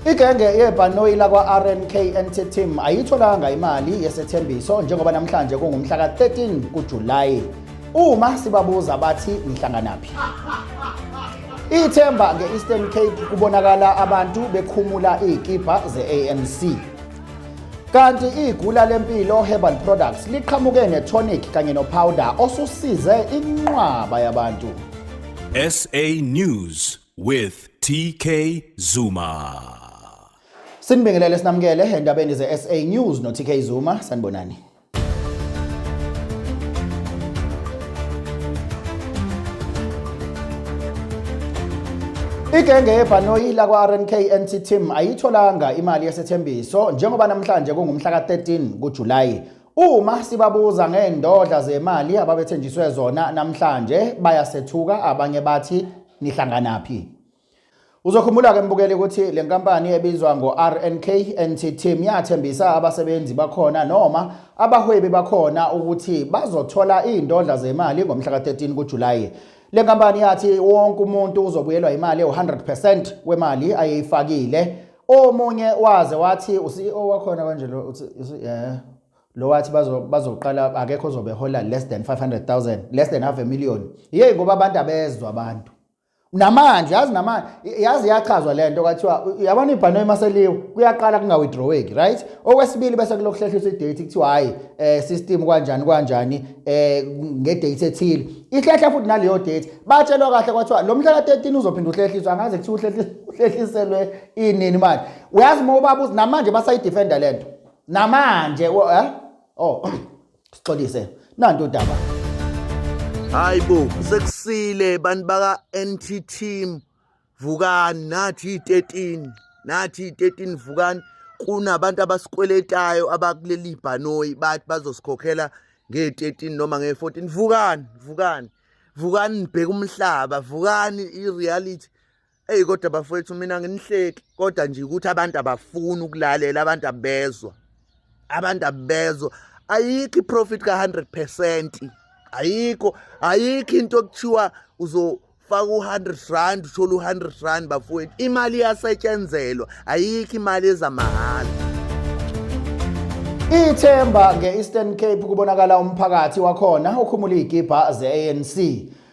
Igenge yebhanoyi lakwa-RNKNT Team ayitholanga imali yesethembiso njengoba namhlanje kungumhla ka-13 kuJulayi. Uma sibabuza bathi nihlanganaphi? Ithemba nge-Eastern Cape kubonakala abantu bekhumula iy'kibha ze-ANC. Kanti igula lempilo Herbal Products liqhamuke netonic kanye nopowder osusize inqwaba yabantu. SA News with TK Zuma. Sinibingelele sinamukele endabeni ze-SA News no-TK Zuma sanibonani. Igenge yebhanoyi lakwa-RNK NT Team ayitholanga imali yesethembiso njengoba namhlanje kungumhla ka-13 kuJulayi. Uma sibabuza ngeendodla zemali ababethenjiswe zona namhlanje bayasethuka abanye bathi nihlanganaphi Uzokhumbula ke mbukeli ukuthi le nkampani ebizwa ngo-RNK NT Team yathembisa abasebenzi bakhona noma abahwebi bakhona ukuthi bazothola iy'ndodla zemali ngomhla ka-13 kuJulayi. Le nkampani yathi wonke umuntu uzobuyelwa imali ewu-100 percent wemali ayeyifakile. Omunye waze wathi u-CEO wakhona kanje lo uthi yeah. lo wathi bazoqala bazo akekho ozobe hola less than 500000 less than half a million yey ngoba abantu abezwa abantu namanje yazi namanje yazi yachazwa lento kwathiwa yabona ibhano emaseliwe kuyaqala kunga withdraweki right okwesibili bese kulokuhlehlisa idate kuthiwa hayi eh system kanjani kanjani eh nge date ethile ihlehla futhi naleyo date batshelwa kahle kwathiwa lo mhla ka13 uzophinda uhlehliswa angazi kuthiwa uhlehliselwe inini manje uyazi mobabuza namanje basayi defender lento namanje eh? oh sixolise nanto udaba hayibo sekusile bantu baka NT team vukani nathi 13 nathi 13 vukani kunabantu abasikweletayo abakuleli bhanoyi bathi bazosikhokhela nge-13 noma nge-14 vukani vukani vukani nibheke umhlaba vukani i-reality Eyi kodwa bafowethu mina nginihleki kodwa nje ukuthi abantu abafuni ukulalela abantu abezwa abantu abezwa ayikho iprofit ka-100 ayikho ayikho into okuthiwa uzo faka u-100 rand uthole u-100 rand bafowethu imali iyasetshenzelwa ayikho imali ezamahhala ithemba nge-eastern cape kubonakala umphakathi wakhona ukhumula iy'gibha ze-anc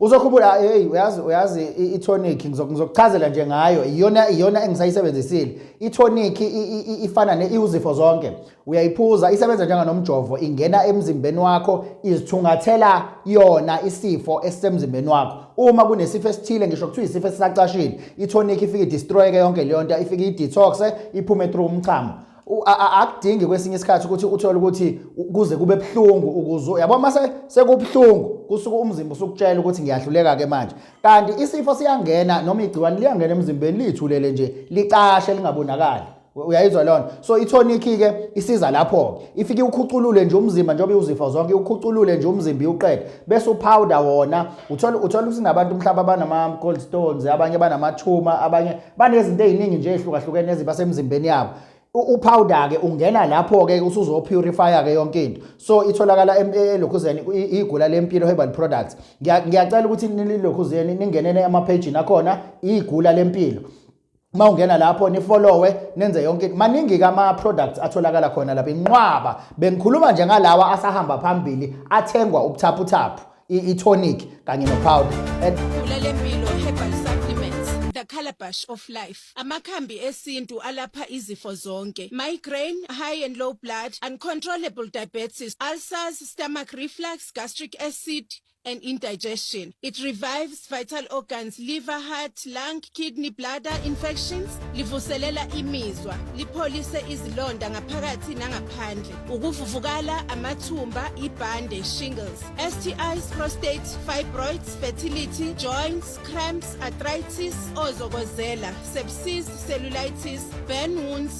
uzokhumbula hey uyazi uyazi itonic ngizokuchazela nje ngayo iyona iyona engisayisebenzisile itonic ifana ne iuzifo zonke uyayiphuza isebenza njenganomjovo ingena emzimbeni wakho izithungathela yona isifo esisemzimbeni wakho uma kunesifo esithile ngisho kuthiwa isifo esisacashile itonic ifike idestroyeke yonke leyo nto ifike idetoxe iphume through umchamo akudingi kwesinye isikhathi ukuthi uthole ukuthi kuze kube buhlungu ukuze yabo uma sekubuhlungu kusuke umzimba usukutshela ukuthi ngiyahluleka ke manje kanti isifo siyangena noma igciwane liyangena emzimbeni lithulele nje licashe lingabonakali uyayizwa lona so itonic ke isiza lapho ke ifike ukhuculule nje umzimba njengoba iwuzifo zonke ukhuculule nje umzimba iwuqede bese upowder wona uthola uthola ukuthi nabantu mhlawumbe abanama gold stones abanye banamathuma abanye banezinto eziningi nje ezihlukahlukene eziba semzimbeni yabo upowder ke ungena lapho ke usuzo purify ke yonke into so itholakala elokhuzeni igula lempilo herbal products ngiyacela ukuthi nilokhuzeni ningenene ama page nakhona igula lempilo uma ungena lapho nifollowe nenze yonke into maningi kama products atholakala khona lapha inqwaba bengikhuluma nje ngalawa asahamba phambili athengwa ubuthaphuthaphu i-tonic kanye nopowder The Calabash of Life. Amakhambi esintu alapha izifo zonke. Migraine, high and low blood, uncontrollable diabetes, ulcers, stomach reflux, gastric acid, and indigestion. It revives vital organs liver heart lung kidney bladder infections livuselela imizwa lipholise izilonda ngaphakathi nangaphandle ukuvuvukala amathumba ibhande shingles stis prostate fibroids fertility joints cramps arthritis ozokozela sepsis cellulitis burn wounds